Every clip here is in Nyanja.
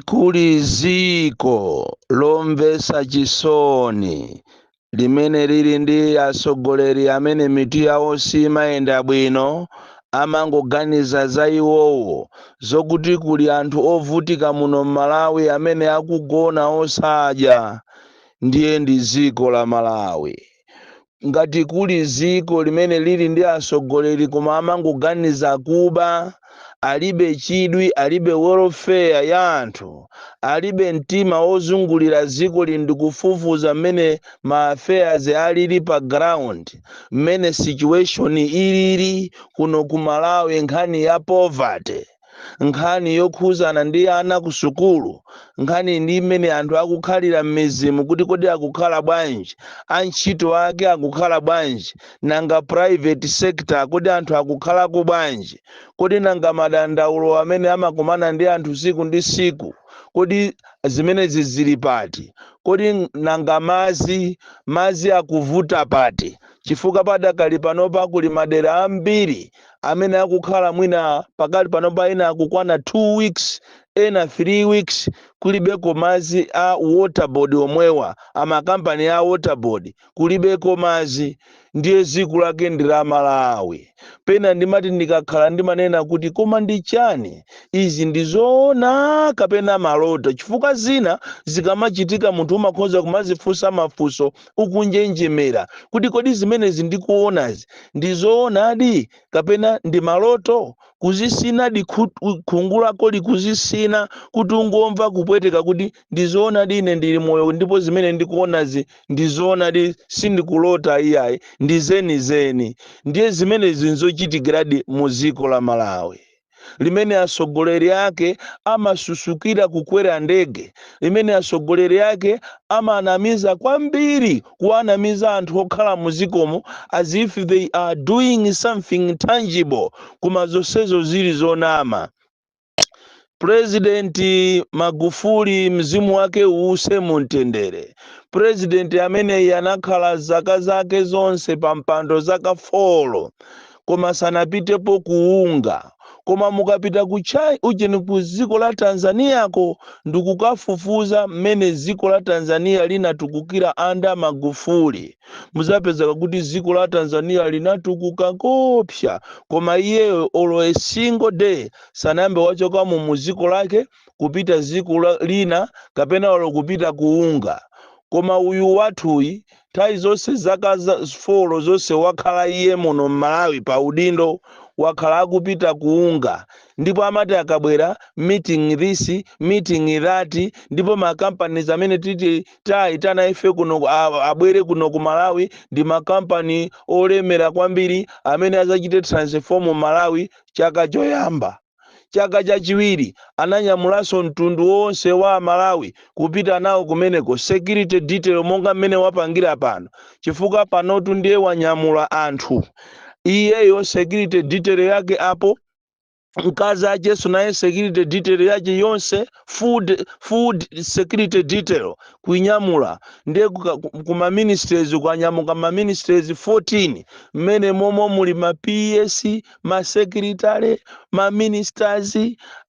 kuli dziko lomvetsa chisoni limene lili ndi atsogoleri amene mitu yawo siimayenda bwino, amangoganiza za iwowo, zokuti kuli anthu ovutika muno m'Malawi amene akugona osadya ndiye ndi dziko la Malawi. ngati kuli ziko limene lili ndi asogoleli koma amangoganiza kuba, alibe chidwi, alibe welfare ya anthu, alibe mtima wozungulira zikoli ndi kufufuza mmene ma affairs alili pa ground, mmene situation ilili kuno ku Malawi nkhani ya poverty. nkhani yokhuzana ndi ana ku sukulu nkhani ndi mmene anthu akukhalira m'mizimu kuti kodi akukhala bwanji antchito ake akukhala bwanji nanga private sector kodi anthu akukhalako bwanji kodi nanga madandaulo amene amakumana ndi anthu siku ndi siku kodi zimenezi zili pati kodi nanga mazi mazi akuvuta pati chifukwa padakali panopa kuli madera ambiri amene akukhala mwina pakali panopa ena akukwana two weeks ena three weeks kulibeko mazi a water board omwewa amakampani a water board kulibeko mazi ndiye ziko lake ndi la malawi pena ndimati ndikakhala ndimanena kuti koma ndi chani izi ndi zoona kapena maloto chifukwa zina zikamachitika munthu umakhoza kumazifunsa mafunso ukunjenjemera kuti kodi zimenezi ndikuonazi ndi zoonadi kapena ndi maloto kuzisinadi khungu lako ndi kuzisina kuti ungomva kupweteka kuti ndi zoonadi ine ndili moyo ndipo zimene ndikuonazi ndi zoonadi sindikulota iyayi ndi zenizeni ndiye zimenezi nzochitikiradi mu dziko la malawi limene atsogoleri ake amasusukira kukwera ndege limene atsogoleri ake amanamiza kwambiri kuwanamiza anthu okhala muzikomo as if they are doing something tangible koma zonsezo zili zonama purezidenti magufuli mzimu wake uuse mu mtendere purezidenti ameneyi anakhala zaka zake zonse pa mpando zaka folo koma sanapitepo ku UNGA koma mukapita ku chai ujeni ku dziko la tanzaniyako ndikukafufuza mmene dziko la tanzaniya linatukukira under magufuli muzapezeka kuti dziko la tanzaniya linatukuka kopsa koma iyeyo olo a single day sanayambe wachokamo mu dziko lake kupita ziko lina kapena olo kupita ku UNGA koma uyu wathuyi Nthawi zonse zaka folo zonse wakhala iye muno m'Malawi pa udindo, wakhala akupita ku UNGA ndipo amati akabwera, meeting this, meeting that, ndipo makampani amene titi tawaitana ife kuno abwere kuno ku Malawi ndi makampani olemera kwambiri amene adzachite transform Malawi chaka choyamba. Chaka chachiwiri ananyamulanso mtundu wonse wa a Malawi kupita nawo kumeneko, security detail monga mmene wapangira pano, chifukwa panotu ndiye wanyamula anthu iyeyo security detail yake apo, mkazi akenso naye security detail yake yonse full security detail kuinyamula ndiye ku ma ministries, kwanyamuka ma ministries 14 mmene momo muli ma PS, ma secretary, ma ministers,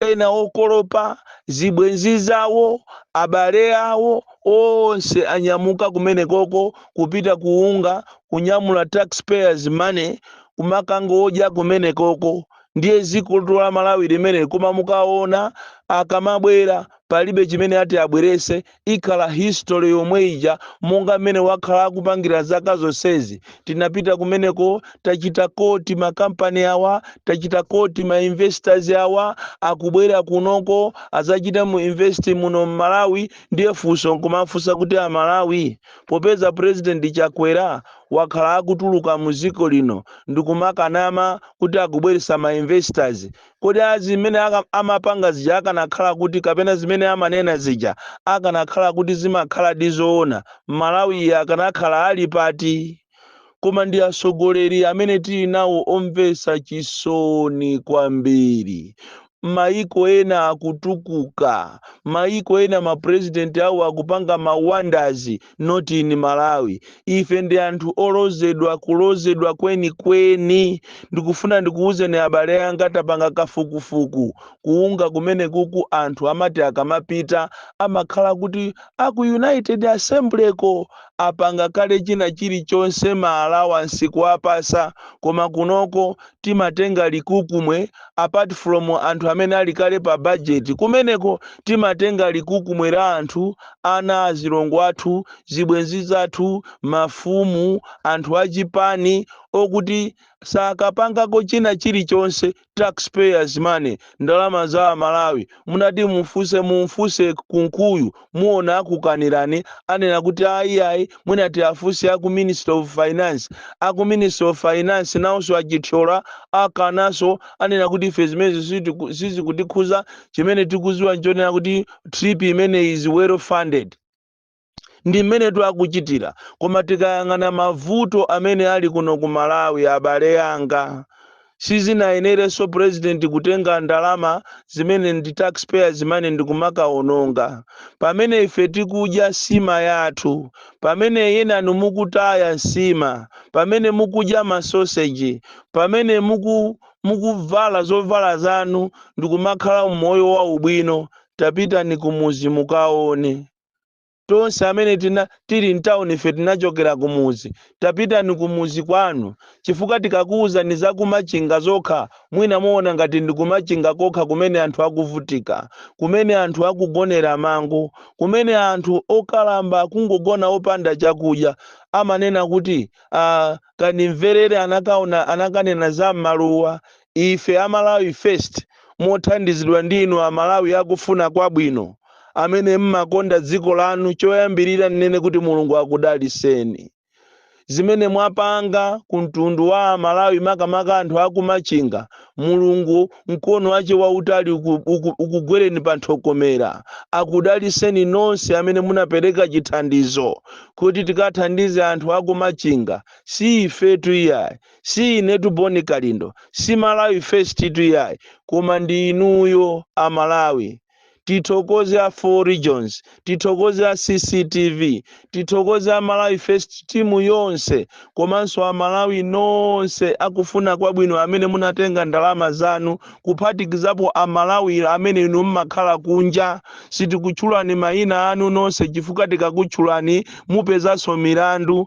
ena okolopa, zibwenzi zawo, abale awo, onse anyamuka kumenekoko kupita ku UNGA, kunyamula tax payers money kumakangodya kumenekoko. Ndiye dzikotu la Malawi limeneli koma mukaona akamabwera palibe chimene ati abwerese. ikhala history yomwe ija monga mmene wakhala akupangira zaka zonsezi tinapita kumeneko tachita koti makampani awa tachita koti ma investors awa akubwera kunoko azachite invest muno mmalawi ndiye funso nkumafunsa kuti amalawi popeza president chakwera wakhala akutuluka mu dziko lino ndikumakanama kuti akubweresa ma investors Kodi a zimene amapanga zija akanakhala kuti kapena zimene amanena zija akanakhala kuti zimakhaladi zoona, Malawi akanakhala ali pati? Koma ndi atsogoleri amene tili nawo omvetsa chisoni kwambiri. Mayiko ena akutukuka, mayiko ena ma president awo akupanga ma wonders not in malawi ife ndi anthu olozedwa kulozedwa kwenikweni ndikufuna ndikuwuzeni abale anga tapanga kafukufuku ku unga kumene kuku anthu amati akamapita amakhala kuti aku united assembly ko apanga kale china chilichonse ma allowance kuwapasa koma kunoko timatenga likukumwe apart from anthu amene ali kale pa budget kumeneko timatenga likukumwe la anthu ana azilongo athu zibwenzi zathu mafumu anthu achipani okuti sakapangako china chilichonse taxpayers money ndalama za amalawi munati mumfunse mumfunse kunkuyu muona akukanirani anena kuti ayi ayi munati muafunse aku ministry of finance aku ministry of finance nawonso achithyola akananso anena kuti ife zimenezi sizikutikhuza chimene tikuziwa nchonena kuti trip imeneyi is well funded ndi mmenetu akuchitira koma tikayang'ana mavuto amene ali kuno ku malawi abale anga sizinayenerenso president kutenga ndalama zimene ndi taxpayers zimene ndikumakaononga pamene ife tikudya nsima yathu pamene enanu mukutaya nsima pamene mukudya masoseji pamene mukuvala zovala zanu ndikumakhala umoyo waubwino tapitani kumuzi mukaone tonse amene tili mtauni ife tinachokera kumuzi tapitani kumuzi kwanu chifukwa tikakuuzani za kumachinga zokha mwina muona ngati ndi kumachinga kokha kumene anthu akuvutika kumene anthu akugonera mango kumene anthu okalamba kungogona opanda chakudya amanena kuti ah, Kandimverere anakanena za mmaluwa ife a Malawi first mothandizidwa ndi inu a Malawi akufuna kwabwino amene mmakonda dziko lanu choyambirira nnene kuti Mulungu akudaliseni zimene mwapanga ku mtundu wa a Malawi makamaka anthu aku Machinga Mulungu mkono wache wautali ukugwereni panthokomera akudaliseni nonse amene munapereka chithandizo kuti tikathandize anthu akumachinga si ifetu iyayi si inetu boni kalindo si malawi firsttu iyayi koma ndi inuyo amalawi tithokoze a four regions tithokoze a cctv tithokoze a malawi first timu yonse komanso a malawi nonse akufuna kwabwino amene munatenga ndalama zanu kuphatikizapo a malawi amene inu mmakhala kunja sitikutchulani mayina anu nonse chifukwa tikakutchulani mupezanso milandu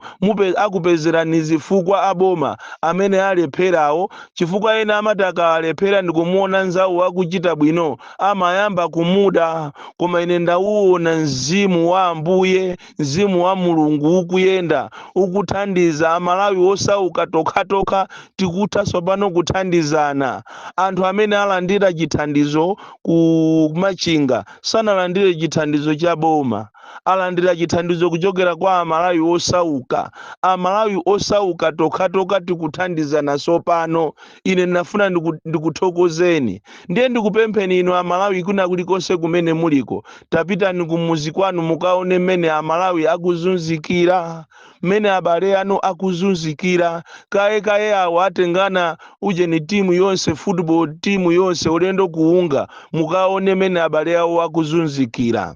akupezerani zifukwa aboma amene alepherawo chifukwa ena amati akalephera ndikumuona nzawo akuchita bwino amayamba kumuda, koma ine ndawuwona Mzimu wa Ambuye, Mzimu wa Mulungu ukuyenda, ukuthandiza Amalawi osauka, tokhatokha tikutha tsopano kuthandizana. Anthu amene alandira chithandizo ku Machinga sanalandire chithandizo cha boma, alandira chithandizo kuchokera kwa Amalawi osauka. Amalawi osauka tokhatokha tikuthandizana tsopano. ine ndinafuna ndikuthokozeni ndiye ndikupempheni inu amalawi kwina kulikonse kumene muliko tapitani kumuzi kwanu mukaone mmene amalawi akuzunzikira mmene abale anu akuzunzikira kaye kaye awo atengana ujeni timu yonse football timu yonse ulendo ku UNGA mukaone mmene abale awo akuzunzikira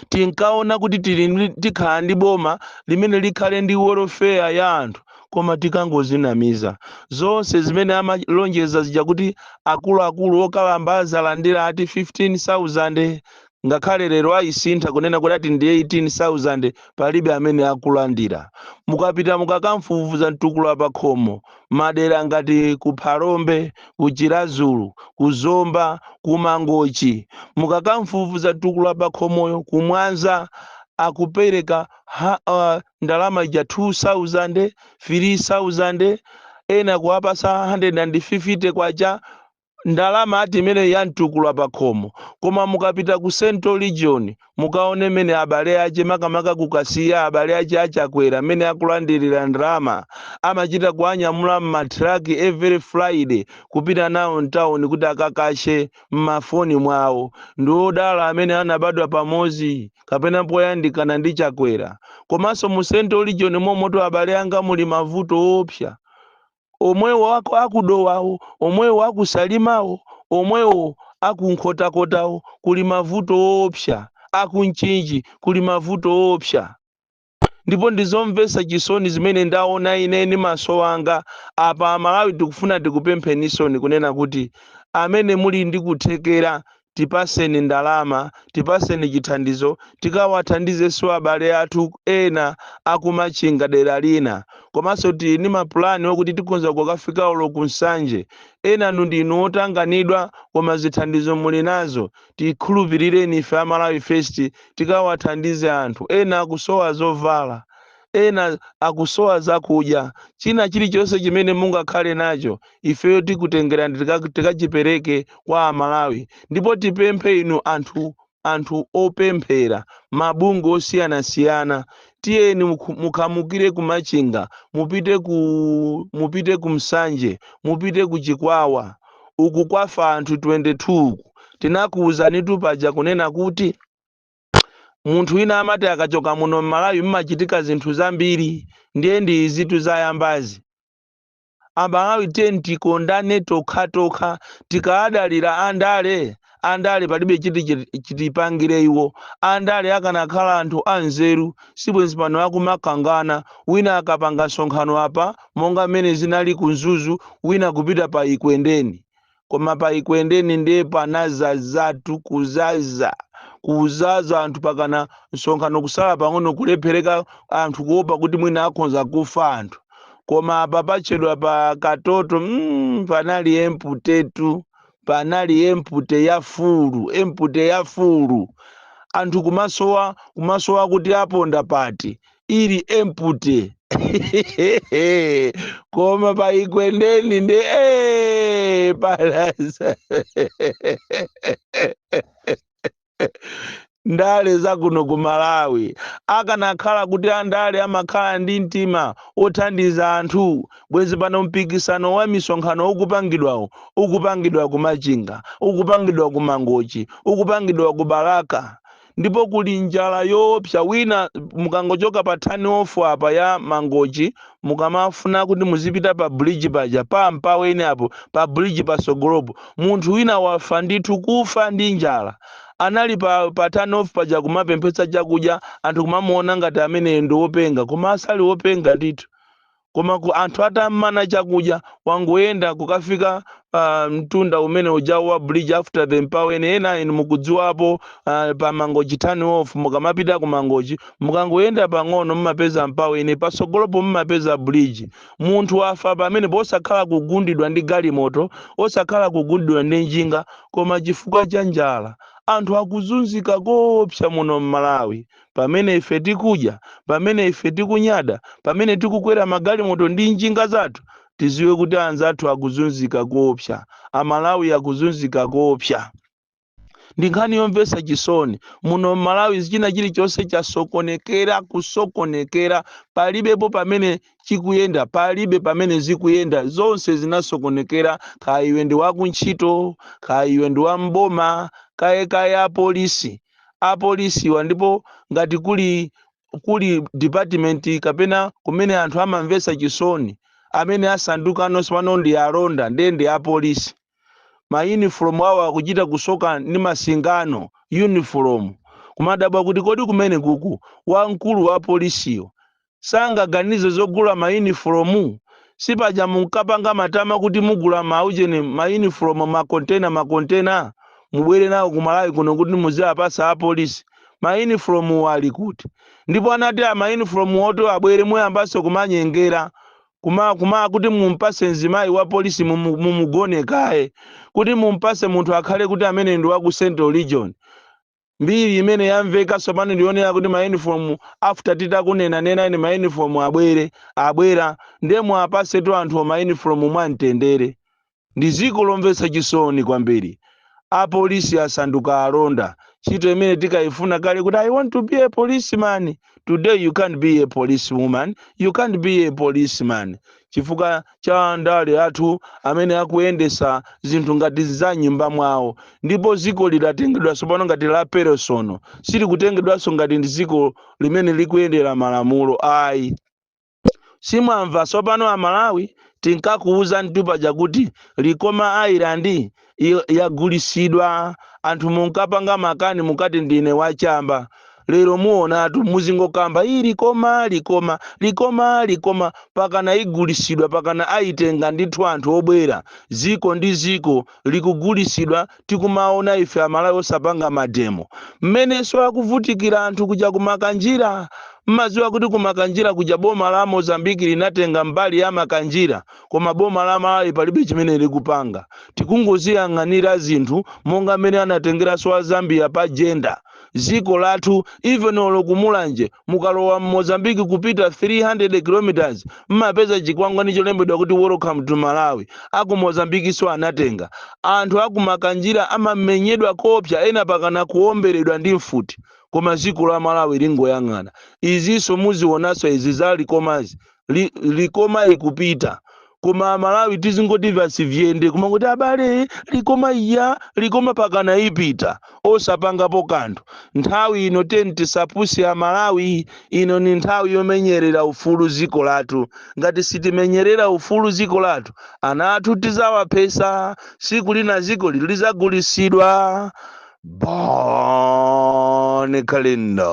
tinkaona kuti tili ndi- tikhala ndi boma limene likhale ndi welfare ya anthu koma tikangozinamiza zonse zimene amalonjeza zija kuti akuluakulu okalamba azalandira ati 15000 ngakhale lero ayisintha kunena kuti ati ndi 18000 palibe amene akulandira mukapita mukakafufuza mtukula pakhomo madera ngati ku Phalombe, ku Chiradzulu, ku Zomba, ku Mangochi. Mukakafufuza Mtukula Pakhomoyo ku Mwanza akupereka ndalama ija 2000 3000 ena kuwapasa 150 kwacha ndalama ati imeneyi ya mtukula pa khomo koma mukapita ku central region mukaone mmene abale ace makamaka kukasiya abale ace achakwera mmene akulandirira ndalama amachita kuanyamula m'matraki every friday kupita nawo mtawuni kuti akakashe m'mafoni mwawo ndi odala amene anabadwa pamodzi kapena poyandikana ndi chakwera komanso mu central region momoto abale anga muli mavuto oopsa omwewo aku, aku Dowawo, omwewo aku Salimawo, omwewo aku Nkhotakotawo, kuli mavuto oopsa, aku Mchinji kuli mavuto oopsa. Ndipo ndi zomvetsa chisoni zimene ndaona ine ndi maso anga apa, Amalawi tikufuna tikupempheninsoni kunena kuti amene muli ndi kuthekera tipaseni ndalama, tipaseni chithandizo tikawathandizenso abale athu ena akumachinga dera lina komaso tili ndi mapulani okuti tikhonza kukafika olo ku nsanje enanu ndinu otanganidwa koma zithandizo muli nazo tikhulupilireni ife a malawi first tikawathandize anthu ena akusowa zovala ena akusowa zakudya china chilichonse chimene mungakhale nacho ifeyo tikutengerani tika- tikachipereke kwa amalawi ndipo tipemphe inu anthu anthu opemphera mabungwe osiyanasiyana tiyeni mukhu- mukhamukire ku machinga mupite ku mupite ku nsanje mupite ku chikwawa uku kwafa anthu 22 uku tinakuwuzanitu paja kunena kuti munthu wina amati akachoka muno m'malawi mmachitika zinthu zambiri ndiye ndi izitu zayambazi amalawi tiyeni tikondane tokhatokha tikadalira andale andale palibe chiti chiti- chitipangire iwo andale akanakhala anthu anzeru sibwenzi pano akumakangana wina akapanga msonkhano apa monga mmene zinali ku mzuzu wina kupita pa ekwendeni koma pa Ekwendeni ndiye panazazatu kuzaza kuzaza anthu pakana msonkhano kusala pang'ono kulephereka anthu kuopa kuti mwina akhonza kufa anthu koma apa pachedwa pa Katoto mm, panali empty-tu panali empty ya full empty ya full anthu kumasowa kumasowa kuti aponda pati ili empty koma pa Ekwendeni ndi eh, panazaza ndale za kuno ku Malawi akanakhala kuti andale amakhala ndi mtima othandiza anthu bwenzi pano mpikisano wa misonkhano ukupangidwawo ukupangidwa ku Machinga ukupangidwa ku Mangochi ukupangidwa ku Balaka ndipo kuli njala yoopsa wina mukangochoka pa turn off apa ya Mangochi mukamafuna kuti muzipita pa bridge paja pa Mpaweni apo pa bridge patsogolopo munthu wina wafa ndithu kufa ndi njala anali pa, pa turn off paja kumapemphetsa chakudya anthu kumamuona ngati ameneyo ndi wopenga koma asali wopenga ndithu Koma anthu atam'mana chakudya, wangoyenda kukafika pa mtunda umene ujawo wa bridge after the Mpaweni, ena inu mukudziwapo uh, pa Mangochi turn off, mukamapita ku Mangochi, mukangoyenda pang'ono mumapeza Mpaweni, patsogolopo mumapeza bridge. Munthu wafa pamenepo osakhala kugundidwa ndi galimoto, osakhala kugundidwa ndi njinga, koma chifukwa cha njala. Anthu akuzunzika koopsa muno m'Malawi. pamene ife tikudya, pamene ife tikunyada, pamene tikukwera magalimoto ndi njinga zathu, tidziwe kuti anzathu akuzunzika koopsa, Amalawi akuzunzika koopsa. Ndi nkhani yomvetsa chisoni. Muno m'Malawi china chilichonse chasokonekera, kusokonekera. Palibepo pamene chikuyenda, palibe pamene zikuyenda. Zonse zinasokonekera, kaya iwe ndi wakuntchito, kaya iwe ndi wa m'boma, kaya kaya apolisi. apolisiwa ndipo ngati kuli kuli department kapena kumene anthu amamvetsa chisoni amene asandukano tsopano ndi alonda ndiye ndi apolisi ma uniform awo akuchita kusoka ndi masingano uniform kumadabwa kuti kodi kumenekuku wamkulu wa polisiyo sangaganize zogula ma uniform? Sipaja munkapanga matama kuti mugula ma ujeni, ma uniform, ma kontena ma kontena mubwere nawo ku Malawi kuno kuti muziwapatsa a polisi? Ma uniform-wo ali kuti? Ndipo anati ma uniform-wo oti abwere muyambanso kumanyengera, kuma, kuma kuti mumpatse mzimayi wa polisi mumu, mumugone kaye, kuti mumpatse munthu akhale kuti ameneyu ndi wa ku Central Region. Mbiri imene yamveka tsopano ndi yoonera kuti ma uniform after titakunenanenani kuti ma uniform abwere, abwera, ndiye muwapatsetu anthuwo ma uniform mwa mtendere. Ndi dziko lomvetsa chisoni kwambiri. Apolisi asanduka alonda, ntchito imene tikaifuna kale kuti I want to be a policeman. today you can't be a police woman you can't be a policeman chifukwa cha andale athu amene akuyendesa zinthu ngati za m'nyumba mwawo ndipo ziko lidatengedwa sopano ngati la peresono silikutengedwanso ngati ndi ziko limene likuyendera malamulo ayi Simwamva sopano amalawi tinkakuuzanitu paja kuti likoma island yagulisidwa anthu munkapanga makani munkati ndine wa chamba lero muonatu muzingokamba ii likoma likoma likoma likoma mpakana igulisidwa mpakana ayitenga ndithu anthu obwera ziko ndi ziko likugulisidwa tikumaona ife amalawi osapanga mademo mmeneso akuvutikira anthu kuja kumakanjira mmaziwa kuti kumakanjira kuja boma la mozambique linatenga mbali ya makanjira koma boma la malawi palibe chimene likupanga tikungoziyang'anira zinthu monga mmene anatengeraso a zambia pa jenda ziko lathu even olo kumulanje mukalowa mmozambique kupita 300 kilometers mmapeza chikwangwani cholembedwa kuti welcome to malawi aku mozambikiso anatenga anthu akumakanjira amamenyedwa koopsa ena mpakana kuomberedwa ndi mfuti koma ziko la malawi lingoyang'ana iziso muzionaso izi za likomazi likoma ikupita koma amalawi tizingoti vasi vyende kumangoti abale likoma iya likoma mpakana ipita osapangapo kanthu nthawi ino teni tisapusi amalawi ino ni nthawi yomenyerera ufulu ziko lathu ngati sitimenyerera ufulu ziko lathu ana athu tizawaphesa siku lina ziko ili lizagulisidwa bon kalindo